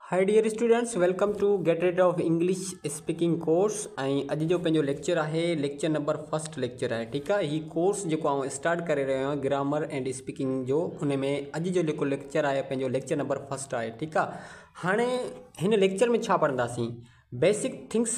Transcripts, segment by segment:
High dear students welcome to get rid of English speaking course ۽ اڄ جو پنهنجو lecture آهي ليڪچر نمبر فرسٽ ليڪچر آهي ٺيڪ آهي هي ڪورس جيڪو آئون اسٽارٽ ڪري رهيو آهيان گرامر اينڊ اسپيڪنگ جو ان ۾ اڄ جو جيڪو ليڪچر آهي پنهنجو ليڪچر نمبر فرسٽ آهي ٺيڪ آهي هاڻي هن ليڪچر ۾ ڇا پڙهنداسين بيسڪ ٿنگس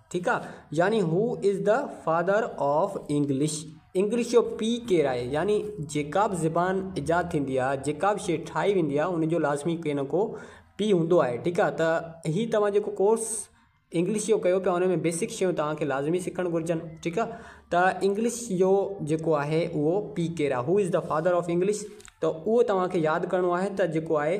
ٺيڪ آ يعني who is the father of English English جو پي ڪير آهي يعني جيڪا به زبان ايجاد ٿيندي آ جيڪا به شي ٺاهي ويندي آ ان جو لازمي ڪي نه ڪو پي هوندو آهي ٺيڪ آ ته هي توهان جيڪو ڪورس انگلش جو ڪيو پيا ان ۾ بيسڪ شيون توهان کي لازمي سکڻ گهرجن ٺيڪ آ ته انگلش جو جيڪو آهي اهو پي ڪير آ who is the father of English ته اهو توهان کي ياد ڪرڻو آهي ته جيڪو آهي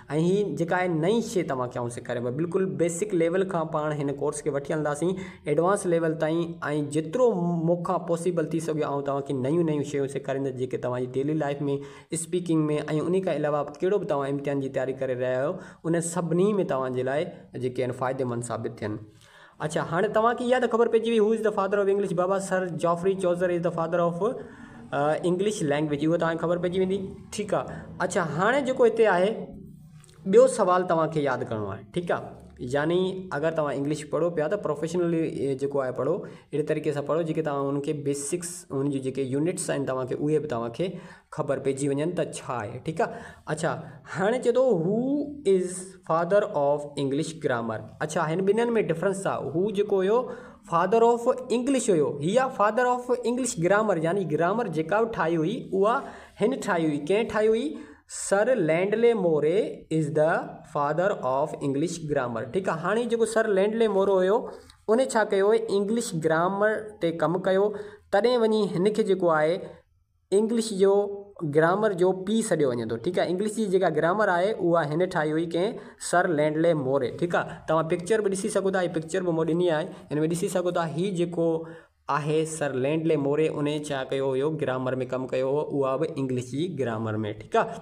۽ هي جيڪا آهي نئين شي توهان کي آئون سيکاريان پيو بلڪل بيسڪ ليول کان پاڻ هن ڪورس کي وٺي هلنداسين ايڊوانس ليول تائين ۽ جيترو مون کان پاسيبل ٿي سگهيو آئون توهان کي نيون نيون شيون سيکاريندس جيڪي توهان جي ڊيلي لائيف ۾ اسپيڪنگ ۾ ۽ انهي کان علاوه ڪهڙو به توهان امتحان جي تياري ڪري رهيا آهيو انهن سڀني ۾ توهان جي لاء جيڪي آهن فائديمند ثابت ٿين. اڇا هاڻي توهان کي اها ته خبر پئجي وئي who is the father of English بابا sir Geoffrey Chaucer is the father of English language اهو توهان کي خبر پئجي ويندي ٺيڪ آهي اڇا هاڻي جيڪو هتي آهي ٻيو سوال توهان کي ياد ڪرڻو آهي ٺيڪ آهي يعني اگر تما انگلش پڑھو پيا تو پروفيشنل جو آئي پڑھو اھڙي طريقي سان پڑھو جيڪي تما ان کي بيسڪس ان جي جيڪي يونٽس آئين تما کي اوھي به تما کي خبر پئجي وڃن ته ڇا آهي ٺيڪ آ اڇا هاڻي چئي ٿو هو is father of English grammar اڇا هن ٻنهن ۾ ڊفرنس آ هو جيڪو هيو فادر آف انگلش هيو هي آ فادر آف انگلش گرامر يعني گرامر جيڪا به ٺاهي هئي اها هن ٺاهي هئي ڪنهن ٺاهي هئي sir Lindley Murray is the father of English grammar ٺيڪ آ هاڻي جيڪو سر لينڊلي مورو هيو ان ڇا ڪيو انگلش گرامر تي ڪم ڪيو تڏهن وڃي هن کي جيڪو آهي انگلش جو گرامر جو پيء سڏيو وڃي ٿو ٺيڪ آهي انگلش جي جيڪا گرامر آهي اها هن ٺاهي هئي ڪنهن سر لينڊلي موري ٺيڪ آهي توهان پڪچر به ڏسي سگهو ٿا هي پڪچر به مون ڏني آهي هن ۾ ڏسي سگهو ٿا هي جيڪو آهي سر لينڊلي موري ان ڇا ڪيو هيو گرامر ۾ ڪم ڪيو هو اها به انگلش جي گرامر ۾ ٺيڪ آهي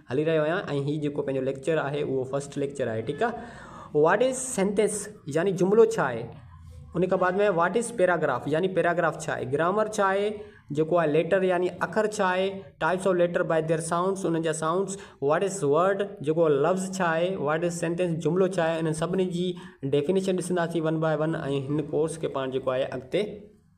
هلي رهيو آهيان ۽ هي جيڪو پنهنجو ليڪچر آهي اهو فرسٽ ليڪچر آهي ٺيڪ آهي واٽ از سينٽينس يعني جملو ڇا آهي ان کان بعد ۾ واٽ از پيراگراف يعني پيراگراف ڇا آهي گرامر ڇا آهي جيڪو آهي ليٽر يعني اکر ڇا آهي types of letter by their sounds انهن جا سائونڈس واٽ از ورڊ جيڪو لفظ ڇا آهي واٽ از سينٹينس جملو ڇا آهي انهن سڀني جي ڊيفينيشن ڏسنداسين ون باء ون ۽ هن ڪورس کي پاڻ جيڪو آهي اڳتي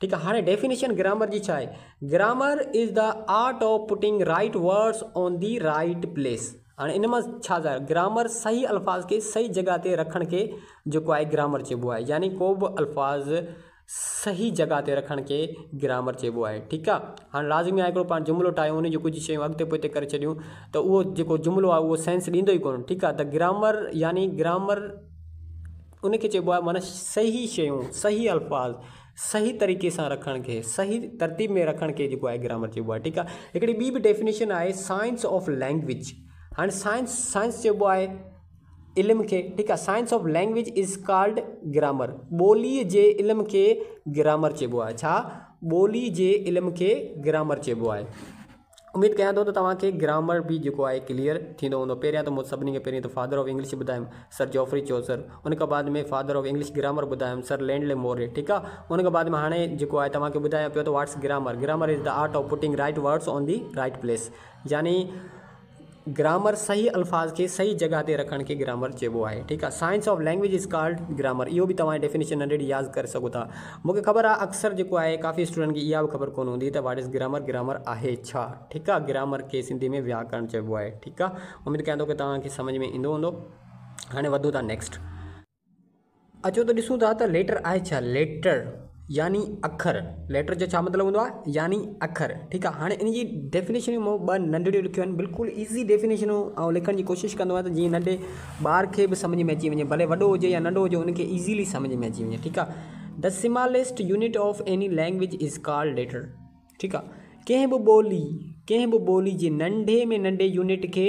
ٺيڪ آ هاڻي ڊيفينيشن گرامر جي ڇا آهي grammar is the art of putting right words on the right place هاڻي ان مان ڇا ظاهر گرامر صحيح الفاظ کي صحيح جڳهه تي رکڻ کي جيڪو آهي گرامر چئبو آهي يعني ڪو به الفاظ صحيح جڳهه تي رکڻ کي گرامر چئبو آهي ٺيڪ آ هاڻي لازمي آهي هڪڙو پاڻ جملو ٺاهيون ان جون ڪجهه شيون اڳتي پوئتي ڪري ڇڏيون ته اهو جيڪو جملو آهي اهو سينس ڏيندو ئي ڪونه ٺيڪ آ ته گرامر يعني گرامر ان کي چئبو آهي معنيٰ صحيح شيون، صحيح الفاظ، صحيح طريقي سان رکڻ کي، صحيح ترتيب ۾ رکڻ کي جيڪو آهي گرامر چئبو آهي ٺيڪ آهي. هڪڙي ٻي به ڊيفينيشن آهي سائنس آف لينگويج هاڻي سائنس سائنس چئبو آهي علم کي ٺيڪ آهي science of language is called grammar ٻولي جي علم کي گرامر چئبو آهي ڇا ٻولي جي علم کي گرامر چئبو آهي. اميد ڪيان ٿو ته توهان کي گرامر به جيڪو آهي ڪليئر ٿيندو هوندو پهريان ته مون سڀني کي پهرين ته فادر آف انگلش ٻڌايم سر جوفري چوسر ان کان بعد ۾ فادر آف انگلش گرامر ٻڌايم سر لينڊلي موري ٺيڪ آ ان کان بعد ۾ هاڻي جيڪو آهي توهان کي ٻڌايان پيو ته what's grammar grammar is the art of putting right words on the right place يعني گرامر صحيح الفاظ کي صحيح جڳهه تي رکڻ کي گرامر چئبو آهي ٺيڪ آهي science of language is called grammar اهو به توهان ڊيفينيشن ننڍڙي ياد ڪري سگهو ٿا مونکي خبر آهي اڪثر جيڪو آهي ڪافي اسٽوڊنٽن کي اها به خبر ڪونه هوندي ته واٽ از گرامر گرامر آهي ڇا ٺيڪ آهي گرامر کي سنڌي ۾ وياڪرڻ چئبو آهي ٺيڪ آهي اميد ڪيان ٿو ڪي توهان کي سمجهه ۾ ايندو هوندو هاڻي وڌون ٿا نيڪسٽ اچو ته ڏسون ٿا ته ليٽر آهي ڇا؟ ليٽر يعني اکر ليٽر جو ڇا مطلب هوندو آهي يعني اکر ٺيڪ آهي هاڻي ان جي ڊيفينيشن مون ٻه ننڍڙيون لکيون آهن بلڪل ايزي ڊيفينيشنون آئون لکڻ جي ڪوشش ڪندو آهيان ته جيئن ننڍي ٻار کي به سمجهه ۾ اچي وڃي ڀلي وڏو هجي يا ننڍو هجي ان کي ايزيلي سمجهه ۾ اچي وڃي ٺيڪ آهي this smallest unit of any language is called letter ٺيڪ آهي ڪنهن به ٻولي ڪنهن به ٻولي جي ننڍي ۾ ننڍي يونٽ کي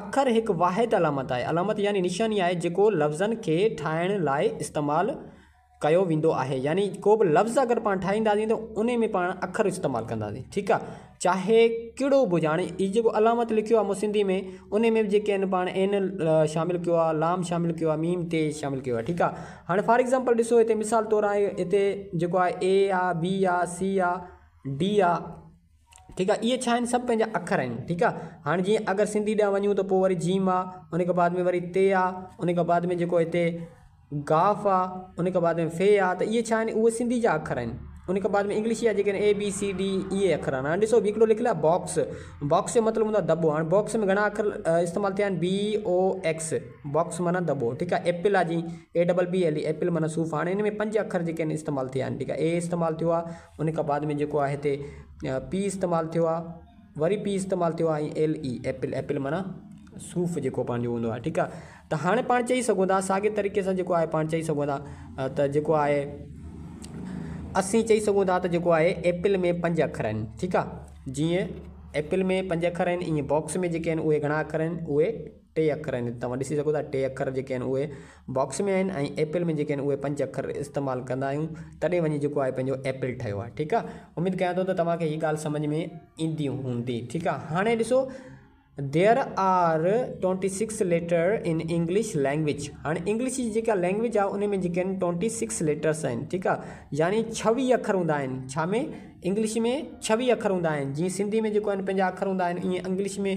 اکر هڪ واحد علامت آهي. علامت يعني نشاني آهي جيڪو لفظن کي ٺاهڻ لاء استعمال ڪيو ويندو آهي. يعني ڪو به لفظ اگر پاڻ ٺاهينداسين ته انهي ۾ پاڻ اکر استعمال ڪنداسين. ٺيڪ آهي. چاهي ڪهڙو به هجي. هاڻي هي جيڪو علامت لکيو آهي مون سنڌي ۾ انهي ۾ به جيڪي آهن پاڻ عين شامل ڪيو آهي، لام شامل ڪيو آهي، ميم تي شامل ڪيو آهي. ٺيڪ آهي. هاڻي فار ايگزامپل ڏسو هتي مثال طور آهي هتي جيڪو آهي اي آهي، بي آهي، سي آهي، ڊي آهي. ٺيڪ آ اھي ڇا آھن سڀ پنھنجا اکر آھن ٺيڪ آ ھاڻ جيئن اگر سنڌي ڏانھن وڃون ته پوء وري جيم آ ان کان بعد ۾ وري تي آ ان کان بعد ۾ جيڪو ھتي گاف آ ان کان بعد ۾ في آ ته اھي ڇا آھن اھي سنڌي جا اکر آھن ان کان بعد ۾ انگلش جا جيڪي اي بي سي ڊي اھي اکر آھن ھاڻ ڏسو ھڪڙو لکيل آ باڪس باڪس جو مطلب ھوندو آ دٻو ھاڻ باڪس ۾ گھڻا اکر استعمال ٿيا آھن بي او ايڪس باڪس معنيٰ دٻو ٺيڪ آ ايپل آ جيئن A double P L E apple معنيٰ صوف ھاڻ ان ۾ پنج اکر جيڪي آھن استعمال ٿيا آھن ٺيڪ آ اي استعمال ٿيو آ ان کان بعد ۾ جيڪو آهي هتي پي استعمال ٿيو آهي وري پي استعمال ٿيو آهي ۽ ايل اي ايپل ايپل معنيٰ صوف جيڪو پنهنجو هوندو آهي ٺيڪ آهي ته هاڻي پاڻ چئي سگهون ٿا ساڳي طريقي سان جيڪو آهي پاڻ چئي سگهون ٿا ته جيڪو آهي اسين چئي سگهون ٿا ته جيڪو آهي ايپل ۾ پنج اکر آهن ٺيڪ آهي جيئن ايپل ۾ پنج اکر آهن ائين باڪس ۾ جيڪي آهن اهي گهڻا اکر آهن اهي ٽي اکر آهن هتي توهان ڏسي سگهو ٿا ٽي اکر جيڪي آهن اهي باڪس ۾ آهن ۽ ايپل ۾ جيڪي آهن اهي پنج اکر استعمال ڪندا آهيون تڏهن وڃي جيڪو آهي پنهنجو ايپل ٺهيو آهي ٺيڪ آهي اميد ڪيان ٿو ته توهان کي هي ڳالهه سمجهه ۾ ايندي هوندي ٺيڪ آهي هاڻي ڏسو there are twenty six letter in English language هاڻي انگلش جي جيڪا لينگويج آهي ان ۾ جيڪي آهن ٽوئنٽي سڪس ليٽرس آهن ٺيڪ آهي يعني ڇويھ اکر هوندا آهن ڇا ۾ انگلش ۾ ڇويھ اکر هوندا آهن جيئن سنڌي ۾ جيڪو آهن پنهنجا اکر هوندا آهن ائين انگلش ۾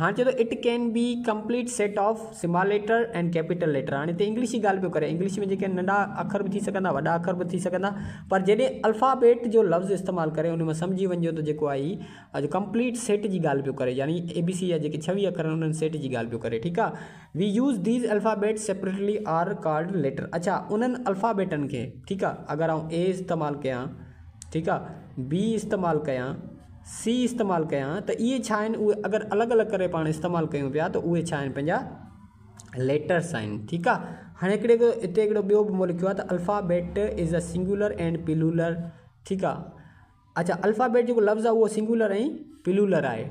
هاڻي چئي ٿو it can be complete set of small letter and capital letter هاڻي هتي انگلش جي ڳالهه پيو ڪري انگلش ۾ جيڪي ننڍا اکر به ٿي سگهندا وڏا اکر به ٿي سگهندا پر جڏهن الفابيٽ جو لفظ استعمال ڪري ان ۾ سمجهي وڃجو ته جيڪو آهي اڄ ڪمپليٽ سيٽ جي ڳالهه پيو ڪري يعني اي بي سي جا جيڪي ڇويهه اکر آهن انهن سيٽ جي ڳالهه پيو ڪري ٺيڪ آهي we use these alphabet separately are called letter اڇا انهن الفابيٽن کي ٺيڪ آهي اگر آئون اي استعمال ڪيان ٺيڪ آهي بي استعمال ڪيان سي استعمال ڪيان ته اهي ڇا آهن اهي اگر الڳ الڳ ڪري پاڻ استعمال ڪيون پيا ته اهي ڇا آهن پنهنجا ليٽرس آهن ٺيڪ آهي هاڻي هڪڙي هتي هڪڙو ٻيو به مون لکيو آهي ته alphabet is a singular and plural ٺيڪ آهي اچا الفابيٽ جيڪو لفظ آهي اهو سنگولر ۽ پلولر آهي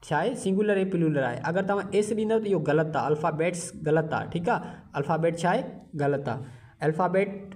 ڇا آهي سنگولر ۽ پلولر آهي اگر توهان ايس ڏيندو ته اهو غلط آهي الفابيٽس غلط آهي ٺيڪ آهي الفابيٽ ڇا آهي غلط آهي الفابيٽ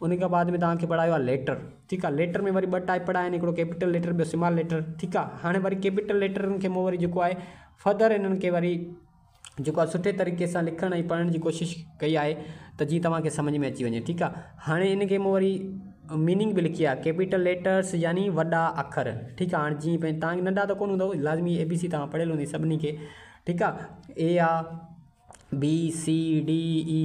انهي کان بعد ۾ توهان کي پڙهايو آهي ليٽر ٺيڪ آهي ليٽر ۾ وري ٻه ٽائيپ پڙهايا آهن هڪڙو ڪيپيٽل ليٽر ٻيو سمال ليٽر ٺيڪ آهي هاڻي وري ڪيپيٽل ليٽرن کي مون وري جيڪو آهي فردر انهن کي وري جيڪو آهي سٺي طريقي سان لکڻ ۽ پڙهڻ جي ڪوشش ڪئي آهي ته جي توهان کي سمجھ ۾ اچي وڃي ٺيڪ آهي هاڻي ان کي مون وري ميننگ به لکي آهي ڪيپيٽل ليٽرس يعني وڏا اکر ٺيڪ آهي هاڻي جي پنهنجي توهان کي ننڍا ته ڪون هوندو لازمي اي بي سي توهان پڙهيل هوندي سڀني کي ٺيڪ آهي اي آهي B C D E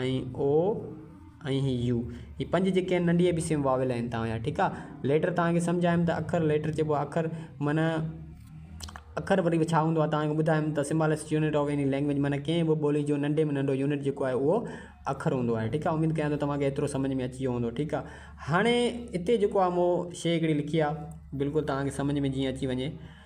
۽ O ۽ هي يو هي پنج جيڪي آهن ننڍي اي بي سي ۾ واويل آهن توهان جا ٺيڪ آ ليٽر توهان کي سمجهايم ته اکر ليٽر چئبو آ اکر معنيٰ اکر وري به ڇا هوندو آ توهان کي ٻڌايم ته smallest unit of any language معنيٰ ڪنهن به ٻولي جو ننڍي ۾ ننڍو يونٽ جيڪو آهي اهو اکر هوندو آهي ٺيڪ آ اميد ڪيان ٿو توهان کي ايترو سمجهه ۾ اچي ويو هوندو ٺيڪ آ هاڻي هتي جيڪو آ مون شي هڪڙي لکي آ بلڪل توهان کي سمجهه ۾ جيئن اچي وڃي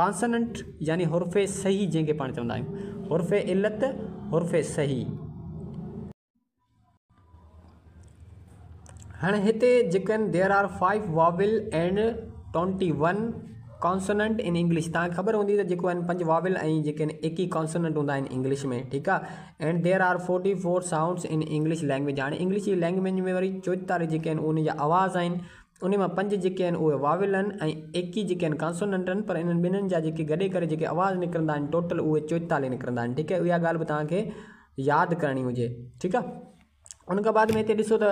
ڪانسننٽ يعني حرف صحيح جنهن کي پاڻ چوندا آهيون حرف علت حرف صحيح. هاڻي هتي جيڪن There are five vowel and twenty one consonant in English توهان کي خبر هوندي ته جيڪو آهن پنج واويل ۽ جيڪي آهن ايڪيهه ڪانسننٽ هوندا آهن انگلش ۾ ٺيڪ آ and There are forty four sounds in English language هاڻي انگلش جي لينگويج ۾ وري چوئتالهه جيڪي آهن انهن جا آواز آهن انهي مان پنج جيڪي آهن اهي واويل آهن ۽ ايڪيهه جيڪي آهن ڪانسوننٽ آهن پر انهن ٻنهين جا جيڪي گڏي ڪري جيڪي آواز نڪرندا آهن ٽوٽل اهي چوئيتاليهه نڪرندا آهن ٺيڪ آهي اها ڳالهه به توهان کي ياد ڪرڻي هجي ٺيڪ آهي ان کان بعد ۾ هتي ڏسو ته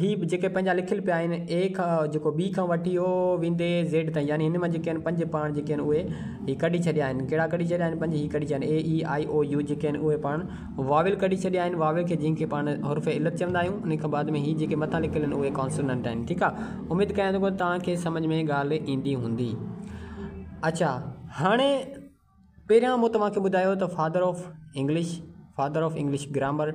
هي جيڪي پنهنجا لکيل پيا آهن اي کان جيڪو بي کان وٺي او ويندي زيڊ تائين يعني هن مان جيڪي آهن پنج پاڻ جيڪي آهن اهي هي ڪڍي ڇڏيا آهن ڪهڙا ڪڍي ڇڏيا آهن پنج هي ڪڍي ڇڏيا آهن اي اي آئي او يو جيڪي آهن اهي پاڻ واويل ڪڍي ڇڏيا آهن واويل کي جنهن کي پاڻ حرف علت چوندا آهيون انهي کان بعد ۾ هي جيڪي مٿان لکيل آهن اهي ڪانسوننٽ آهن ٺيڪ آ اميد ڪيان ٿو توهان کي سمجھ ۾ ڳالهه ايندي هوندي اچا هاڻي پهريان مون توهان کي ٻڌايو ته father of English father of English grammar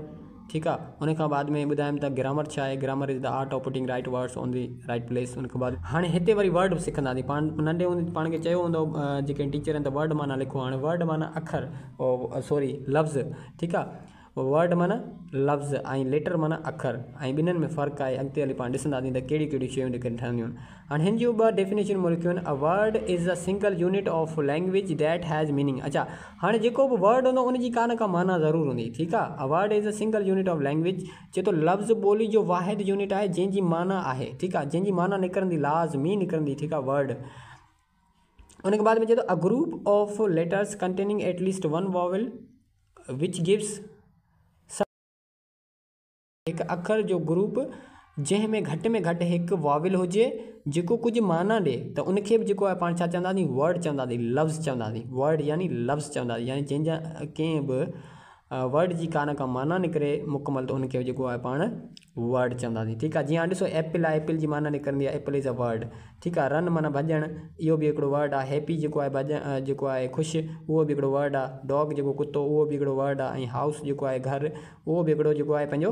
ٺيڪ آ ان کان بعد ۾ ٻڌايم ته گرامر ڇا آهي grammar is the art of putting right words on the right place ان کان بعد هاڻي هتي وري ورڊ سکنداسين پاڻ ننڍي هوندي پاڻ کي چيو هوندو جيڪي ٽيچر آهن ته ورڊ معنيٰ لکو هاڻي ورڊ معنيٰ اکر سوري لفظ ٺيڪ آ Word معنيٰ لفظ ۽ Letter معنيٰ اکر ۽ ٻنهين ۾ فرق آهي اڳتي هلي پاڻ ڏسنداسين ته ڪهڙيون ڪهڙيون شيون لکين ٺهنديون هاڻ هن جون ٻه ڊيفينيشنون مون لکيون آهن A word is a single unit of language that has meaning اڇا هاڻي جيڪو به Word هوندو ان جي ڪا نه ڪا معنيٰ ضرور هوندي ٺيڪ آ A word is a single unit of language چئي ٿو لفظ ٻولي جو واحد يونٽ آهي جنهن جي معنيٰ آهي ٺيڪ آ جنهن جي معنيٰ نڪرندي لاز مي نڪرندي ٺيڪ آ Word ان کان بعد ۾ چئي ٿو a group of letters containing at least one vowel which gives هڪ اکر جو گروپ جنهن ۾ گهٽ ۾ گهٽ هڪ واويل هجي جيڪو ڪجهه معنيٰ ڏي ته ان کي به جيڪو آهي پاڻ ڇا چونداسين ورڊ چونداسين لفظ چونداسين ورڊ يعني لفظ چونداسين يعني جنهن جا ڪنهن به ورڊ جي ڪا نه ڪا معنيٰ نڪري مڪمل ته ان کي جيڪو آهي پاڻ ورڊ چونداسين ٺيڪ آهي جي هاڻي ڏسو ايپل آهي ايپل جي معنيٰ نڪرندي آهي ايپل از اي ورڊ ٺيڪ آهي رن معنيٰ ڀڄڻ اهو به هڪڙو ورڊ آهي هيپي جيڪو آهي ڀڄ جيڪو آهي خوش اهو به هڪڙو ورڊ آهي ڊاگ جيڪو ڪتو اهو به هڪڙو ورڊ آهي ۽ هائوس جيڪو آهي گهر اهو به هڪڙو جيڪو آهي پنهنجو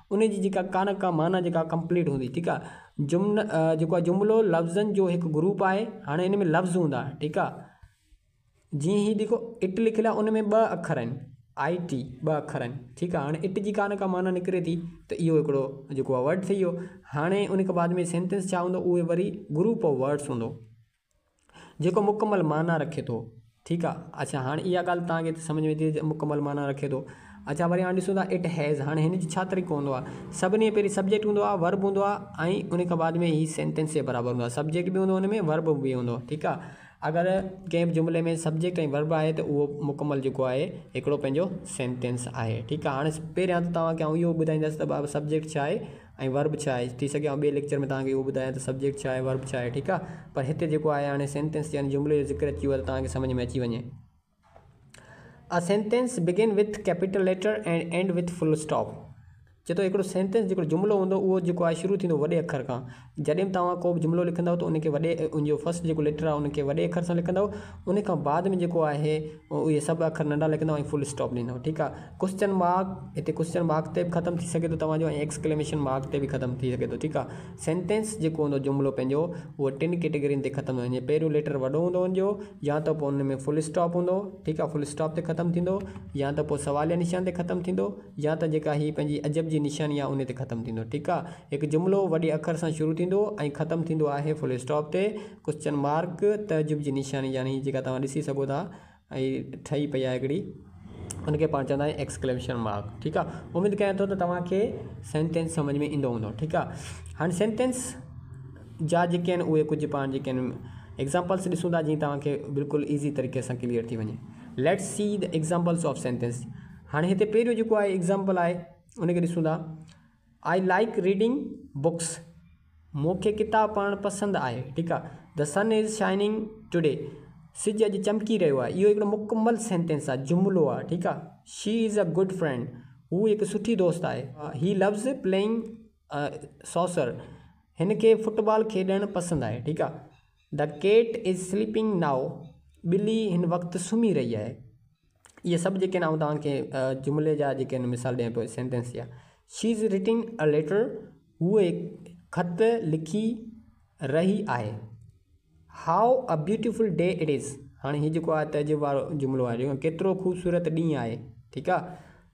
ان جي جيڪا ڪا نه ڪا معنيٰ جيڪا ڪمپليٽ هوندي ٺيڪ آ جمن جيڪو آ جملو لفظن جو هڪ گروپ آهي هاڻي ان ۾ لفظ هوندا ٺيڪ آ جيئن هي ڏيکو اٽ لکيل آ ان ۾ ٻه اکر آهن آئي ٽي ٻه اکر آهن ٺيڪ آ هاڻي اٽ جي ڪا نه ڪا معنيٰ نڪري ٿي ته اهو هڪڙو جيڪو آ ورڊ ٿي ويو هاڻي ان کان بعد ۾ سينٽينس ڇا هوندو اهي وري گروپ آف ورڊس هوندو جيڪو مڪمل معنيٰ رکي ٿو. ٺيڪ آ اڇا هاڻ اها ڳالهه توهان کي سمجهه ۾ اچي ٿي ته مڪمل معنيٰ رکي ٿو. اڇا وري هاڻ ڏسون ٿا It has هاڻ هن جو ڇا طريقو هوندو آ. سڀني کان پهرين سبجيڪٽ هوندو آ، ورب هوندو آ ۽ ان کان بعد ۾ هي سينٽينس جي برابر هوندو آ. سبجيڪٽ به هوندو هن ۾ ورب به هوندو ٺيڪ آ. اگر ڪنهن به جملي ۾ سبجيڪٽ ۽ ورب آهي ته اهو مڪمل جيڪو آهي هڪڙو پنهنجو سينٽينس آهي ٺيڪ آ. هاڻ پهريان ته توهان کي آئون اهو ٻڌائيندس ته سبجيڪٽ ڇا آهي. ۽ ورب ڇا آهي ٿي سگهي آئون ٻئي ليڪچر ۾ توهان کي اهو ٻڌايان ته سبجيڪٽ ڇا آهي ورب ڇا آهي ٺيڪ آهي پر هتي جيڪو آهي هاڻي سينٽينس يعني جملي جو ذڪر اچي ويو آهي ته توهان کي سمجهه ۾ اچي وڃي A sentence begin with capital letter and end with full stop چي ٿو هڪڙو سينٽينس جيڪو جملو هوندو اهو جيڪو آهي شروع ٿيندو وڏي اکر کان جڏهن به توهان ڪو به جملو لکندو ته ان کي وڏي ان جو فرسٽ جيڪو ليٽر آهي ان کي وڏي اکر سان لکندو ان کان بعد ۾ جيڪو آهي اهي سڀ اکر ننڍا لکندو ۽ فل اسٽاپ ڏيندو ٺيڪ آهي ڪوشچن مارڪ هتي ڪوشچن مارڪ تي به ختم ٿي سگهي ٿو توهان جو ۽ ايڪسڪليميشن مارڪ تي به ختم ٿي سگهي ٿو ٺيڪ آ سينٽينس جيڪو هوندو جملو پنهنجو اهو ٽن ڪيٽيگرين تي ختم ٿيندو جي پهريون ليٽر وڏو هوندو ان جو يا ته پوء ان ۾ فل اسٽاپ هوندو ٺيڪ آ فل اسٽاپ تي ختم ٿيندو يا ته پوء سواليه نشان تي ختم ٿيندو يا ته جيڪا هي پنهنجي عجب جي نشاني آ ان تي ختم ٿيندو ٺيڪ آ هڪ جملو وڏي اکر سان شروع ٿيندو ۽ ختم ٿيندو آهي فل اسٽاپ تي ڪوشچن مارڪ تعجب جي نشاني يعني جيڪا توهان ڏسي سگهو ٿا ۽ ٺهي پئي آهي هڪڙي ان کي پاڻ چوندا آهيون ايڪسڪليمشن مارڪ ٺيڪ آهي اميد ڪيان ٿو ته توهان کي سينٽينس سمجھ ۾ ايندو هوندو ٺيڪ آهي هاڻي سينٽينس جا جيڪي آهن اهي ڪجھ پاڻ جيڪي آهن ايگزامپلس ڏسون ٿا جيئن توهان کي بلڪل ايزي طريقي سان ڪليئر ٿي وڃي let see the examples of sentence هاڻي هتي پهريون جيڪو آهي ايگزامپل آهي ان کي ڏسون ٿا آئي لائيڪ ريڊنگ بوڪس مون کي ڪتاب پڙهڻ پسند آهي ٺيڪ آهي دي سن از شائننگ ٽوڊي سج اڄ چمڪي رهيو آهي اهو هڪڙو مڪمل سينٽينس آهي جملو آهي ٺيڪ آهي she is a good friend هو هڪ سٺي دوست آهي هي لوز پلينگ سوسر هن کي فٽ بال کيڏڻ پسند آهي ٺيڪ آهي دي ڪيٽ از سليپنگ نائو ٻلي هن وقت سمهي رهي آهي اهي سڀ جيڪي آهن آئون توهان کي جملي جا جيڪي آهن مثال ڏيان پيو سينٽينس جا she is writing a letter هوء خط لکي رهي آهي how a beautiful day it is هاڻي هي جيڪو آهي تهذيب وارو جملو آهي ڏيکو ڪيترو خوبصورت ڏينهن آهي ٺيڪ آهي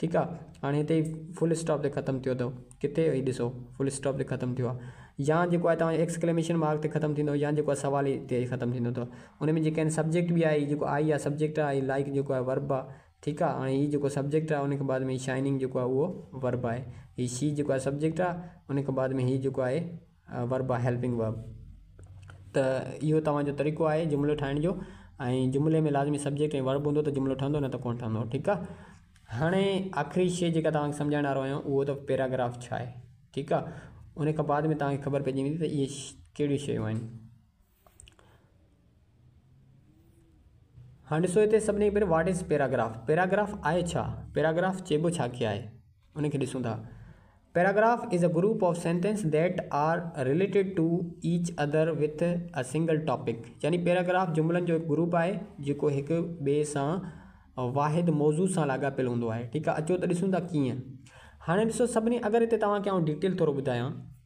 ٺيڪ آ هاڻي هتي فل اسٽاپ تي ختم ٿيو اٿو ڪٿي هي ڏسو فل اسٽاپ تي ختم ٿيو آ يا جيڪو آ توهان ايڪسڪليميشن مارڪ تي ختم ٿيندو يا جيڪو سوال هي تي ختم ٿيندو اٿو ان ۾ جيڪي آهن سبجيڪٽ به آهي جيڪو آئي آ سبجيڪٽ آهي لائڪ جيڪو آهي ورب آ ٺيڪ آ هاڻي هي جيڪو سبجيڪٽ آهي ان کي بعد ۾ شائننگ جيڪو آهي اهو ورب آهي هي شي جيڪو آهي سبجيڪٽ آهي ان کي بعد ۾ هي جيڪو آهي ورب آ هيلپنگ ورب ته اهو توهان جو طريقو آهي جملو ٺاهڻ جو ۽ جملي ۾ لازمي سبجيڪٽ ۽ ورب هوندو ته جملو ٺهندو نه ته ڪونه ٺهندو ٺيڪ آهي هاڻي آخري شي جيڪا توهان کي سمجهائڻ وارو آهيان اهو ته پيراگراف ڇا آهي ٺيڪ آهي ان کان بعد ۾ توهان کي خبر پئجي ويندي ته اهي ڪهڙيون شيون آهن هاڻ ڏسو هتي سڀني کان پهرين واٽ از پيراگراف پيراگراف آهي ڇا پيراگراف چئبو ڇا کي آهي ان کي ڏسون ٿا paragraph is a group of sentence that are related to each other with a single topic يعني پيراگراف جملن جو هڪ گروپ آهي جيڪو هڪ ٻئي سان واحد موضوع سان لاڳاپيل هوندو آهي ٺيڪ آهي اچو ته ڏسون ٿا ڪيئن هاڻي ڏسو سڀني اگر هتي توهان کي آئون ڊيٽيل ٿورو ٻڌايان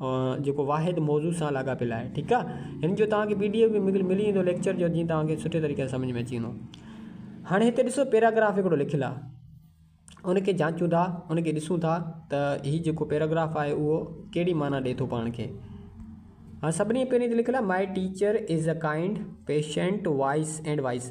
جيڪو واحد موضوع سان لاڳاپيل آهي ٺيڪ آ هن جو توهان کي پي ڊي ايف به ملي ويندو ليڪچر جو جيئن توهان کي سٺي طريقي سان سمجھ ۾ اچي ويندو هاڻي هتي ڏسو پيراگراف هڪڙو لکيل آ ان کي جانچون ٿا ان کي ڏسون ٿا ته هي جيڪو پيراگراف آهي اهو ڪهڙي معنيٰ ڏي ٿو پاڻ کي هاڻ سڀني پهرين تي لکيل آ my teacher is a kind patient wise and wise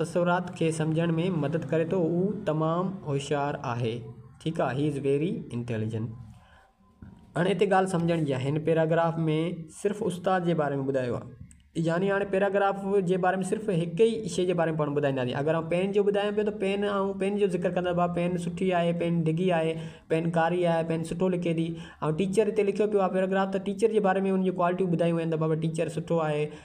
تصورات کي سمجهڻ ۾ مدد ڪري ٿو هو تمام هوشيار آهي ٺيڪ آهي He is very intelligent هاڻي هتي ڳالهه سمجهڻ جي آهي هن پيراگراف ۾ صرف استاد جي باري ۾ ٻڌايو آهي يعني هاڻي پيراگراف جي باري ۾ صرف هڪ ئي شيء جي باري ۾ پاڻ ٻڌائينداسين اگر آئون پين جو ٻڌايان پيو ته پين آئون پين جو ذڪر ڪندس ڀاء پين سٺي آهي پين ڊگهي آهي پين ڪاري آهي پين سٺو لکي ٿي آئون ٽيچر هتي لکيو پيو آهي پيراگراف ته ٽيچر جي باري ۾ ان جون ڪوالٽيون ٻڌايون ويون آهن ته بابا ٽيچر سٺو آهي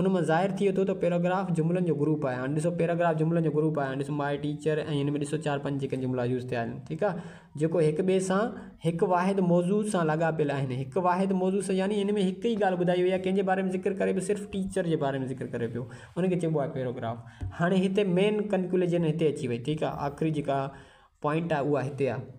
ان مان ظاهر ٿئي ٿو ته پيراگراف جملن جو گروپ آهي. هاڻي ڏسو پيراگراف جملن جو گروپ آهي. هاڻي ڏسو ماء ٽيچر ۽ هن ۾ ڏسو چار پنج جيڪي جملا يوز ٿيا آهن. ٺيڪ آهي. جيڪو هڪ ٻئي سان هڪ واحد موضوع سان لاڳاپيل آهن. هڪ واحد موضوع سان يعني هن ۾ هڪ ئي ڳالهه ٻڌائي وئي آهي. ڪنهن جي باري ۾ ذڪر ڪري پيو صرف ٽيچر جي باري ۾ ذڪر ڪري پيو. ان کي چئبو آهي پيراگراف. هاڻي هتي مين ڪنڪلوجن هتي اچي وئي ٺيڪ آهي. آخري جيڪا پوائنٽ آهي اها هتي آهي.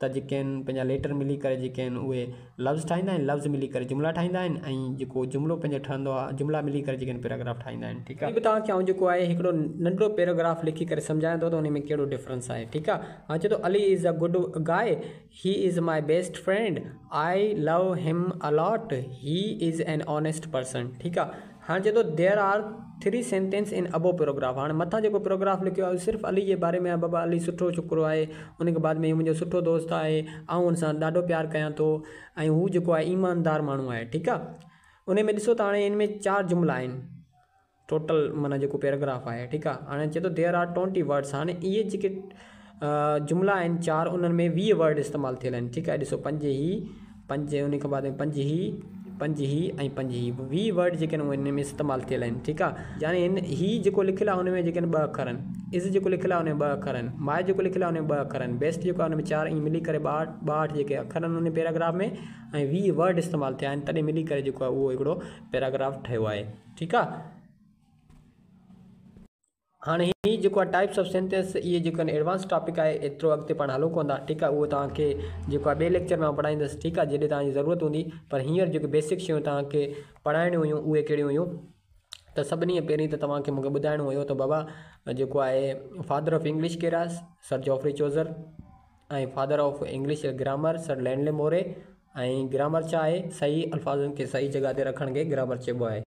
ته جيڪي آهن پنهنجا ليٽر ملي ڪري جيڪي آهن اهي لفظ ٺاهيندا آهن لفظ ملي ڪري جملا ٺاهيندا آهن ۽ جيڪو جملو پنهنجو ٺهندو آهي جملا ملي ڪري جيڪي آهن پيراگراف ٺاهيندا آهن ٺيڪ آهي وري به توهان کي آئون جيڪو آهي هڪڙو ننڍڙو پيراگراف لکي ڪري سمجهايان ٿو ته ان ۾ ڪهڙو ڊفرنس آهي ٺيڪ آهي هاڻي چئي ٿو Ali is a good guy he is my best friend I love him a lot he is an honest person ٺيڪ آهي هاڻ چئي ٿو There are three sentences in above paragraph هاڻ مٿان جيڪو پيراگراف لکيو آهي اهو صرف علي جي باري ۾ آهي بابا علي سٺو ڇوڪرو آهي ان کان بعد ۾ هي منهنجو سٺو دوست آهي آئون ان سان ڏاڍو پيار ڪيان ٿو ۽ هو جيڪو آهي ايماندار ماڻهو آهي ٺيڪ آهي ان ۾ ڏسو ته هاڻي ان ۾ چار جملا آهن ٽوٽل معنيٰ جيڪو پيراگراف آهي ٺيڪ آهي هاڻي چئي ٿو There are twenty words هاڻي اهي جيڪي جملا آهن چار انهن ۾ ويهه ورڊ استعمال ٿيل آهن ٺيڪ آهي ڏسو پنج هي پنج ان کان بعد پنج هي پنج هي ۽ پنج هي ويهه ورڊ جيڪي آهن ان ۾ استعمال ٿيل آهن ٺيڪ آهي يعني هن هي جيڪو لکيل آهي ان ۾ جيڪي آهن ٻه اکر آهن از جيڪو لکيل آهي ان ۾ ٻه اکر آهن ماء جيڪو لکيل آهي ان ۾ ٻه اکر آهن بيسٽ جيڪو آهي ان ۾ چار ائين ملي ڪري ٻاهٺ ٻاهٺ جيڪي اکر آهن ان پيراگراف ۾ ۽ ويهه ورڊ استعمال ٿيا آهن تڏهن ملي ڪري جيڪو آهي اهو هڪڙو پيراگراف ٺهيو آهي ٺيڪ آهي هاڻي هي جيڪو آهي ٽائپس آف سينٽينس اهي جيڪو آهن ايڊوانس ٽاپڪ آهي ايترو اڳتي پاڻ هلون ڪونه ٿا ٺيڪ آهي اهو توهان کي جيڪو آهي ٻئي ليڪچر ۾ آئون پڙهائيندس ٺيڪ آهي جڏهن توهان جي ضرورت هوندي پر هينئر جيڪي بيسڪ شيون توهان کي پڙهائڻيون هيون اهي ڪهڙيون هيون ته سڀني کان پهرين ته توهان کي مونکي ٻڌائڻو هيو ته بابا جيڪو آهي فادر آف انگلش ڪير آهي sir Geoffrey Chaucer ۽ father of English grammar sir Lindley Murray ۽ grammar ڇا آهي صحيح الفاظن کي صحيح جڳهه تي رکڻ کي گرامر چئبو آهي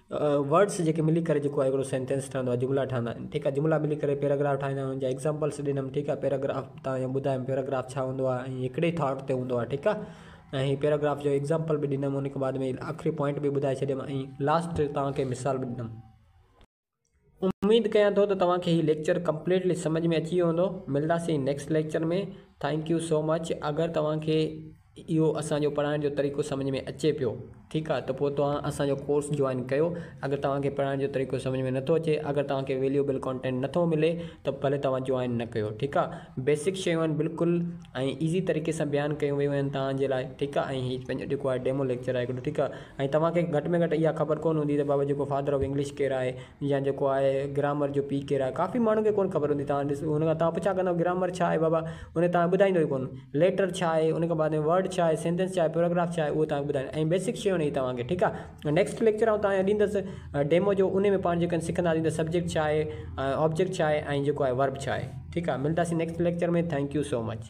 ورڊس جيڪي ملي ڪري جيڪو آهي هڪڙو سينٽينس ٺهندو آهي جملا ٺهندا آهن ٺيڪ آهي جملا ملي ڪري پيراگراف ٺاهيندا آهن ان جا ايگزامپلس ڏنم ٺيڪ آهي پيراگراف تان اهي ٻڌايم پيراگراف ڇا هوندو آهي ۽ هڪڙي ئي ٿاٽ تي هوندو آهي ٺيڪ آهي ۽ هي پيراگراف جو ايگزامپل به ڏنم ان کان بعد ۾ آخري پوائنٽ به ٻڌائي ڇڏيم ۽ لاسٽ تان کي مثال به ڏنم اميد ڪيان ٿو ته توهان کي هي ليڪچر ڪمپليٽلي سمجهه ۾ اچي ويو هوندو ملداسين next lecture ۾ thank you so much اگر توهان کي اهو اسان جو پڙهائڻ جو طريقو سمجهه ۾ اچي پيو ٺيڪ آ ته پوء توهان اسان جو ڪورس جوائن ڪيو اگر توهان کي پڙهائڻ جو طريقو سمجهه ۾ نٿو اچي اگر توهان کي ويليوبل ڪانٽينٽ نٿو ملي ته ڀلي توهان جوائن نه ڪيو ٺيڪ آ بيسڪ شيون آهن بلڪل ۽ ايزي طريقي سان بيان ڪيون ويون آهن توهان جي لاء ٺيڪ آ ۽ هي پنهنجو جيڪو آهي ڊيمو ليڪچر آهي هڪڙو ٺيڪ آ. ۽ توهان کي گهٽ ۾ گهٽ اها خبر ڪونه هوندي ته بابا جيڪو فادر آف انگلش ڪير آهي يا جيڪو آهي گرامر جو پيء ڪير آهي ڪافي ماڻهن کي ڪونه خبر هوندي توهان ڏسو ان کان توهان پڇا ڪندا گرامر ڇا آهي بابا ان کي توهان ٻڌائيندو ئي ڪونه ليٽر ڇا آهي ان کان بعد ۾ ورڊ ڇا آهي سينٽينس ڇا آهي پيراگراف ڇا آهي اهو توهان کي ٻڌائيندو ۽ بيسڪ شيون هي توهان کي ٺيڪ آهي نيڪسٽ ليڪچر آئون توهان کي ڏيندس ڊيمو جو ان ۾ پاڻ جيڪا سکنداسين ته سبجيڪٽ ڇا آهي آبجيڪٽ ڇا آهي ۽ جيڪو آهي ورب ڇا آهي ٺيڪ آهي ملداسين next lecture ۾ thank you so much